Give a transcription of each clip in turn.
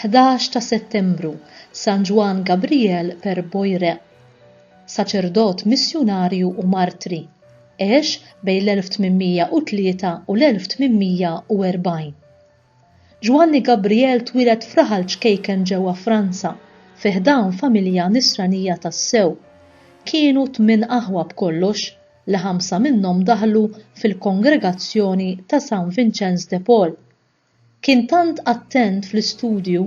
Ħdax ta' Settembru, San Ġwann Gabriel per Boire, saċerdot missjunarju u martri, għex bejn l-1803 u l-1840. Ġwanni Gabriel twieled f'raħal ċkejken ġewwa Franza, fi ħdan familja Nisranija tassew. Kienu tmien aħwa b'kollox, li ħamsa minnhom daħlu fil-kongregazzjoni ta' San Vinċenz de Paul. Kien tant attent fl-istudju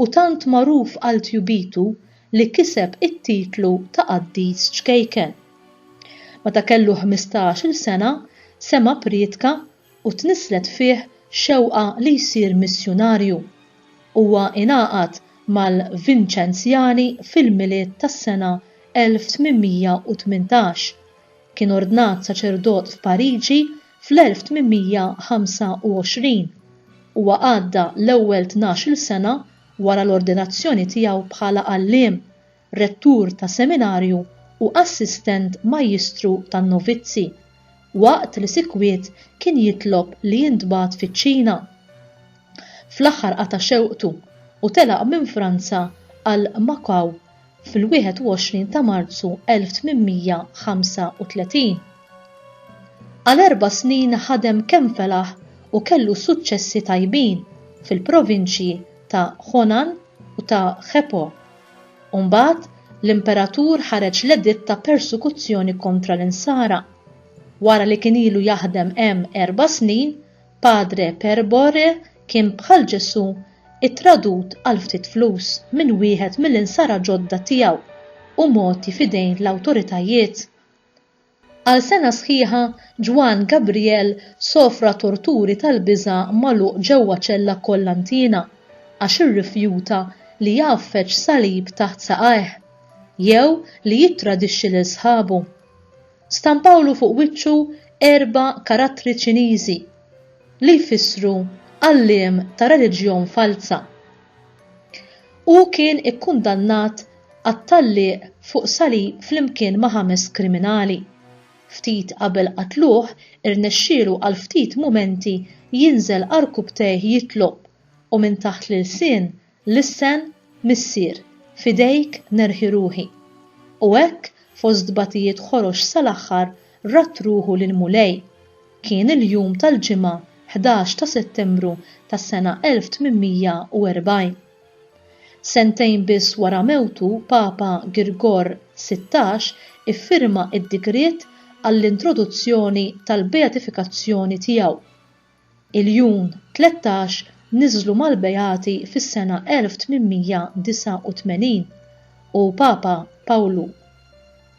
u tant magħruf għal tjubitu li kiseb it-titlu ta' qaddis ċkejken. Meta kellu ħmistax-il sena, sema' prietka u tnisslet fih xewqa li jsir missjunarju. Huwa ingħaqad mal-Vinċenzjani fil-Milied tas-sena 1818. Kien ordnat saċerdot f'Pariġi fl-1825. Huwa għadda l-ewwel tnax-il sena wara l-ordinazzjoni tiegħu bħala għalliem, rettur ta' seminarju u assistent majjistru tan-novizzi, waqt li sikwit kien jitlob li jintbagħat fiċ-Ċina. Fl-aħħar qata' xewqtu u telaq minn Franza għal Macau fil-21 ta' Marzu 1835. Għal erba' snin ħadem kemm felaħ u kellu suċċessi tajbin fil-provinċji ta' Honan u ta' Khepo. u mbagħad l-imperatur ħareġ l-editt ta' persekuzzjoni kontra l-Insara. Wara li kien ilu jaħdem hemm erba' snin, Padre Perbore kien bħal Ġesù ittradut għal ftit flus minn wieħed mill-Insara ġodda tiegħu u mogħti f'idejn l-awtoritajiet. Għal sena sħiħa, Juan Gabriel sofra torturi tal-biża' magħluq ġewwa ċella kkollantina għax irrifjuta li jgħaffeġ salib taħt saqajh, jew li jittradixxi lil sħabu. Stampawlu fuq wiċċu erba' karattri Ċiniżi, li jfissru għalliem ta' reliġjon falza. Hu kien ikkundannat għat-tgħalliq fuq salib flimkien ma' ħames kriminali. Ftit qabel qatluh, irnexxielu għal ftit mumenti jinżel għarkupptejh jitlob, u minn taħt l-ilsien, lissen, Missier, f'idejk nerħi ruħi. U hekk, fost tbatijiet ħorox sal-aħħar, radd ruħu lill-Mulej. Kien il-jum tal-Ġimgħa 11 ta' Settembru tas-sena 1840. Sentejn biss wara mewtu Papa Girgor Sittax iffirma d-digriet għall-introduzzjoni tal-beatifikazzjoni tiegħu. Il-jun tlettax niżlu mal-beati fis-sena 1889 u Papa Pawlu.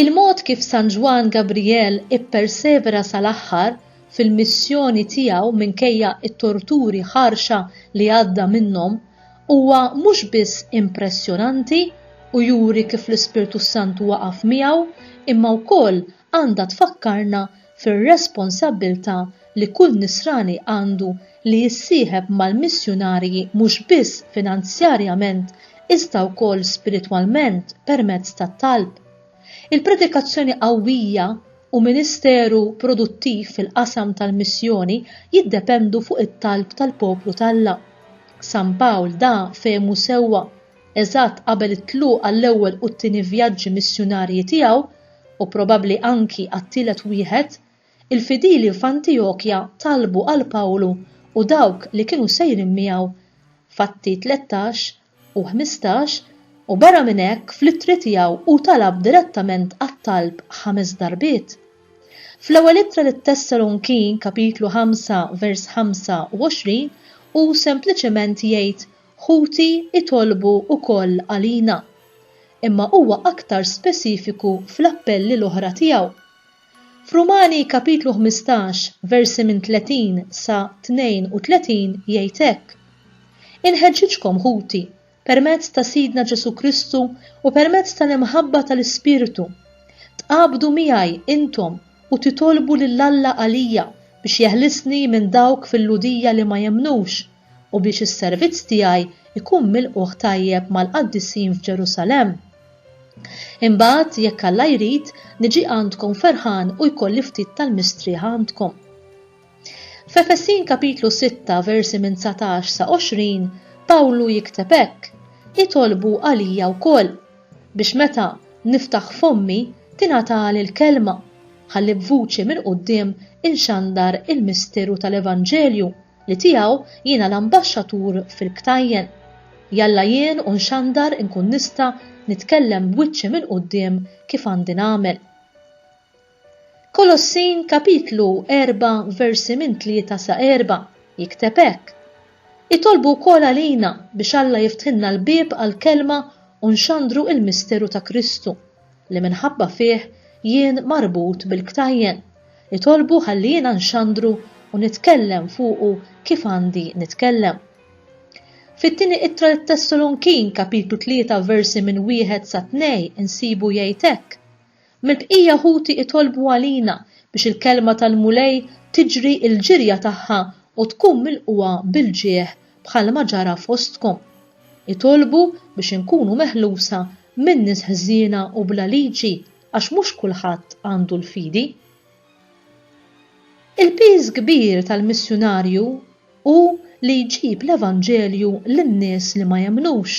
Il-mod kif San Ġwann Gabriel ippersevera sal-aħħar fil-missjoni tiegħu minkejja t-torturi ħarxa li għadda minnhom huwa mhux biss impressjonanti u juri kif l-Ispirtu s-Santu waqaf miegħu imma wkoll għandha tfakkarna fir-responsabbiltà li kull Nisrani għandu li jissieħeb mal-missjunarji mhux biss finanzjarjament iżda wkoll spiritwalment permezz tat-talb. Il-predikazzjoni qawwija u ministeru produttiv fil-qasam tal-missjoni jiddependu fuq it-talb tal-poplu t'Alla. San Pawl da fehmu sewwa. eżatt qabel it-tluq għall-ewwel u t-tieni vjaġġi missjunarji tiegħu, u probabbli anki għat-tielet wieħed, il-fidili f'Antiokja talbu għal Pawlu u dawk li kienu sejrin miegħu, f'Atti tlettax u ħmistax, u barra minn hekk fl-ittri tiegħu hu talab direttament għat-talb ħames darbiet. Fl-Ewwel Ittra lit-Tessalonkin, Kapitlu ħamsa, vers 25, hu sempliċement jgħid Ħuti jtolbu wkoll għalina. Imma huwa aktar speċifiku fl-appelli l-oħra tiegħu. F'Rumani kapitlu ħmistax, versi minn 30 sa 32 jgħid hekk, Inħeġġiġkom, ħuti, permezz ta' Sidna Ġesù Kristu u permezz tal-imħabba tal-Ispirtu, tqabdu miegħi intom u titolbu lil Alla għalija biex jeħlisni minn dawk fil-Lhudija li ma jemmnux, u biex is-servizz tiegħi jkun milqugħ tajjeb mal-qaddisin f'Ġerusalemm. Imbagħad, jekk Alla jrid, niġi għandkom ferħan u jkolli ftit tal-mistrieħ għandkom. F'Efesin kapitlu 6 versi minn 19 sa 20, Pawlu jikteb hekk, Itolbu għalija wkoll biex meta niftaħ fommi tingħatali l-kelma ħalli b'vuċi minn quddiem inxandar il-misteru tal-Evanġelju li tiegħu jiena l-ambaxxatur fil-ktajjen. Jalla jien u nxandar inkun nista' nitkellem b'wiċċi mill-quddiem kif għandi nagħmel. Kolossin kapitlu erba' versi minn tlieta sa erba' jikteb hekk, Itolbu wkoll għalina biex Alla jiftħilna l-bieb għall-kelma u nxandru il-misteru ta' Kristu, li minħabba fih jien marbut bil-ktajjen, itolbu ħalli jiena nxandru u nitkellem fuqu kif għandi nitkellem. Fit-Tieni Ittra lit-Tessalonkin, Kapitlu 3, versi minn wieħed sa tnej insibu jgħid hekk, Mill-bqija ħuti itolbu għalina biex il-kelma tal-Mulej tiġri l-ġirja tagħha u tkun milqugħa bil-ġieħ bħalma ġara fostkom. Itolbu biex inkunu meħlusa minn nies ħżiena u bla liġi għax mhux kulħadd għandu l-fidi. Il-piż kbir tal-missjunarju hu li jġib l-evanġelju lin-nies li ma jemmnux,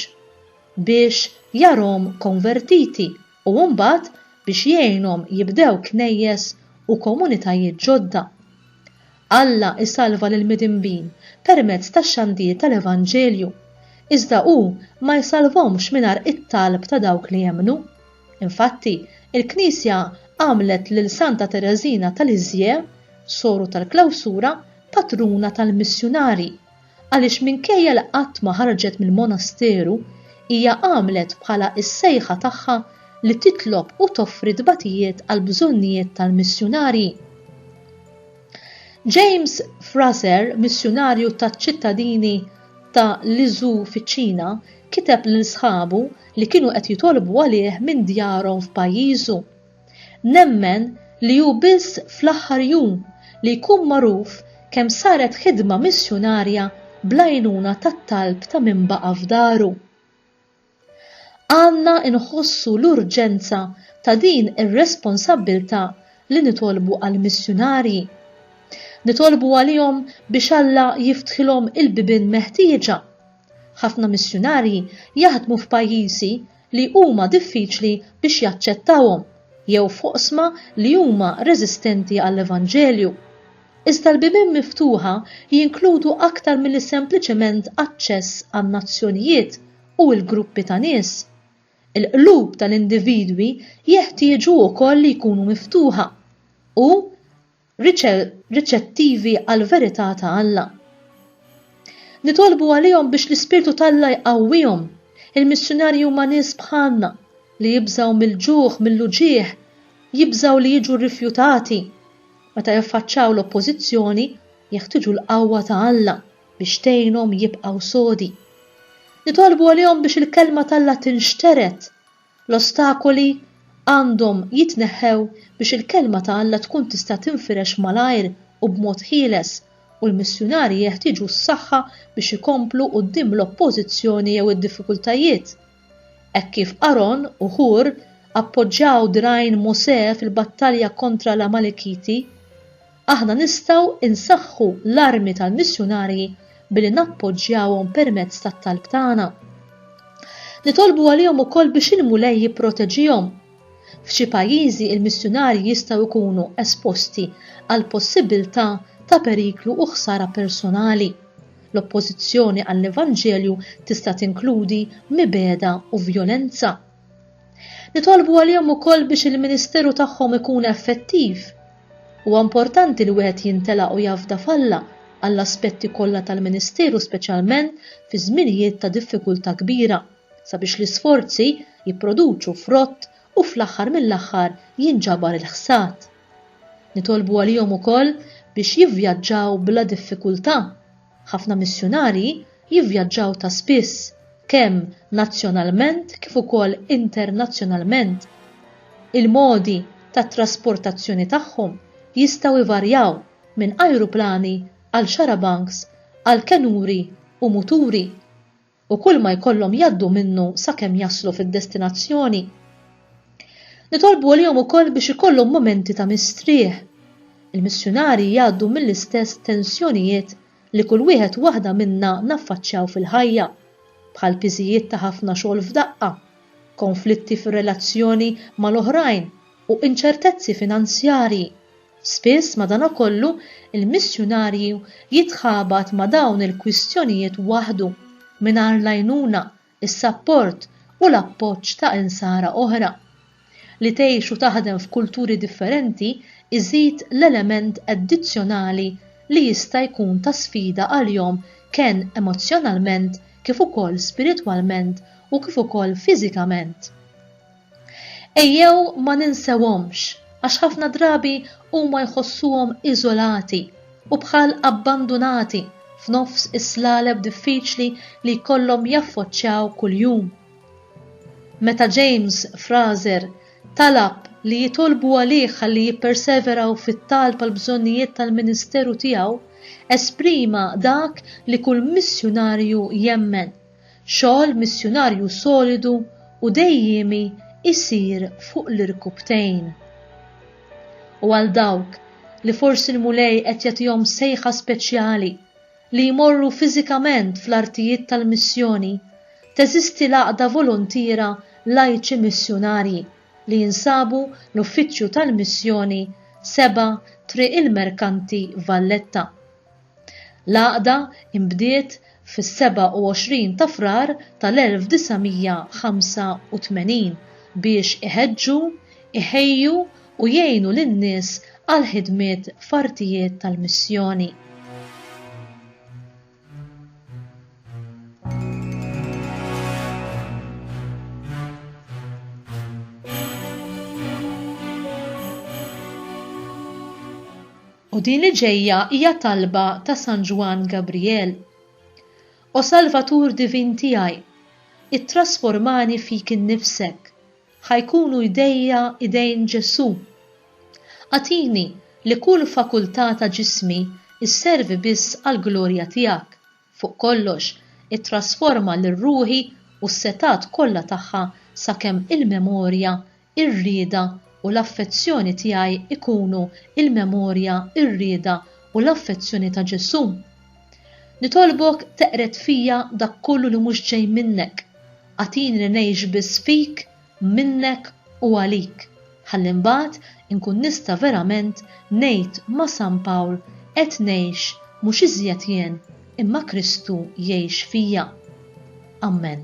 biex jarahom konvertiti u mbagħad biex jgħinhom jibdew knejjes u komunitajiet ġodda. Alla jsalva lill-midinbin permezz tax-xandir tal-evanġelju, iżda hu ma jsalvhomx mingħajr it-talb ta' dawk li jemmnu. Infatti, il-Knisja għamlet lil Santa Tereżina ta' Lisieux, Soru tal-Klawsura, patruna tal-missjunarji, għaliex minkejja li qatt ma ħarġet mill-monasteru, hija għamlet bħala s-sejħa tagħha li titlob u toffri tbatijiet għall-bżonnijiet tal-missjunarji. James Frazer, missjunarju taċ-ċittadini ta' Lizhou fiċ-Ċina, kiteb lil sħabu li kienu qed jitolbu għalih minn djarhom f'pajjiżu. Nemmen li hu biss fl-aħħar jum li jkun magħruf kemm saret ħidma missjunarja bl-għajnuna tat-talb ta' min baqa' f'daru. Għandna nħossu l-urġenza ta' din ir-responsabbiltà li nitolbu għall-missjunarji. Nitolbu għalihom biex Alla jiftħilhom il-bibien meħtieġa. Ħafna missjunarji jaħdmu f'pajjiżi li huma diffiċli biex jaċċettawhom jew f'oqsma li huma reżistenti għall-Evanġelju. Iżda l-bibien miftuħa jinkludu aktar milli sempliċement aċċess għan-nazzjonijiet u l-gruppi ta' nies. Il-qlub tal-individwi jeħtieġu wkoll li jkunu miftuħa u riċettivi għall-verità ta' Alla. Nitolbu għalihom biex l-Ispirtu t'Alla jqawwihom. Il-missjunarji huma nies bħalna li jibżgħu mill-ġuħ, mill-uġigħ, jibżgħu li jiġu rrifjutati. Meta jaffaċċaw l-oppożizzjoni, jeħtieġu l-qawwa ta' Alla biex tgħinhom jibqgħu sodi. Nitolbu għalihom biex il-Kelma t'Alla tinxtered L-ostakoli għandhom jitneħħew biex il-Kelma ta' Alla tkun tista' tinfirex malajr u b'mod ħieles, u l-missjunarji jeħtieġu s-saħħa biex ikomplu quddiem l-oppożizzjoni jew id-diffikultajiet. Hekk kif Aron u Hur appoġġaw dirgħajn Mosè fil-battalja kontra l-Amalikiti, Aħna nistgħu nsaħħu l-armi tal-missjunarji billi nappoġġjawhom permezz tat-talb tagħna. Nitolbu għalihom ukoll biex il-Mulej jipproteġihom. F'xi pajjiżi l-missjunarji jistgħu jkunu esposti għall-possibbiltà ta' periklu u ħsara personali. L-oppożizzjoni għall-Evanġelju tista' tinkludi mibegħda u vjolenza. Nitolbu għalihom ukoll biex il-ministeru tagħhom ikun effettiv. Huwa importanti li wieħed jintela' u jafda f'Alla għall-aspetti kollha tal-ministeru speċjalment fi żminijiet ta' diffikultà kbira, sabiex l-isforzi jipproduċu frott u fl-aħħar mill-aħħar jinġabar il-ħsad. Nitolbu għalihom ukoll biex jivvjaġġaw bla diffikultà. Ħafna missjunarji jivvjaġġaw ta' spiss, kemm nazzjonalment kif ukoll internazzjonalment. Il-modi tat-trasportazzjoni tagħhom jistgħu jvarjaw minn ajruplani għal xarabanks għal kenuri u muturi. u kull ma jkollhom jgħaddu minnu sakemm jaslu fid-destinazzjoni. Nitolbu għalihom ukoll biex ikollhom mumenti ta' mistrieħ. Il-missjunarji jgħaddu mill-istess tensjonijiet li kull wieħed waħda minna naffaċċjaw fil-ħajja, bħal piżijiet ta' ħafna xogħol f'daqqa, konflitti fir-relazzjoni mal-oħrajn u inċertezzi finanzjarji. Spiss, madankollu, il-missjunarju jitħabat ma' dawn il-kwistjonijiet waħdu, mingħajr l-għajnuna, is-sapport u l-appoġġ ta' Insara oħra. Li tgħix u taħdem f'kulturi differenti iżid l-element addizzjonali li jista' jkun ta' sfida għalihom ken emozzjonalment kif ukoll spiritwalment u kif ukoll fiżikament. Ejjew ma ninsewhomx għax ħafna drabi huma jħossuhom iżolati u bħal abbandunati f'nofs is-slaleb diffiċli li jkollhom jaffoċċjaw kuljum. Meta James Frazer talab li jitolbu għalih ħalli jipperseveraw fit-talb għall-bżonnijiet tal-ministeru tiegħu, esprima dak li kull missjunarju jemmen, Xogħol missjunarju solidu u dejjiemi jsir fuq l-irkupptejn. U għal dawk li forsi l-Mulej qed jagħtihom sejħa speċjali li jmorru fiżikament fl-artijiet tal-missjoni, teżisti l-Għaqda Voluntiera Lajċi Missjunarji li jinsabu l-Uffiċċju tal-Missjoni 7 Triq il-Merkanti Valletta. L-għaqda nbdiet fis-27 ta' Frar tal-1985 biex iħeġġu, iħejju u jgħinu lin-nies għall-ħidmiet f'artijiet tal-missjoni. U din li ġejja hija talba ta' San Ġwann Gabrijel, O Salvatur divin tiegħi, ittrasformani fik innifsek, ħa jkunu jdejja idejn Ġesù. Agħtini li kull fakultà ta' ġismi sservi biss għall-glorja tiegħek, fuq kollox, ittrasforma lil ruħi u s-setgħat kollha tagħha sakemm il-memorja ir-rieda u l-affezzjoni tiegħi jkunu l-memorja, ir-rieda u l-affezzjoni ta' Ġesù. Nitolbok teqred fija dak kollu li mhux ġej minnek. Agħtini li ngħix biss fik, minnek u għalik, ħalli mbagħad inkun nista' verament ngħid ma' San Pawl, Qed ngħix, mhux iżjed jien, imma Kristu jgħix fija. Ammen.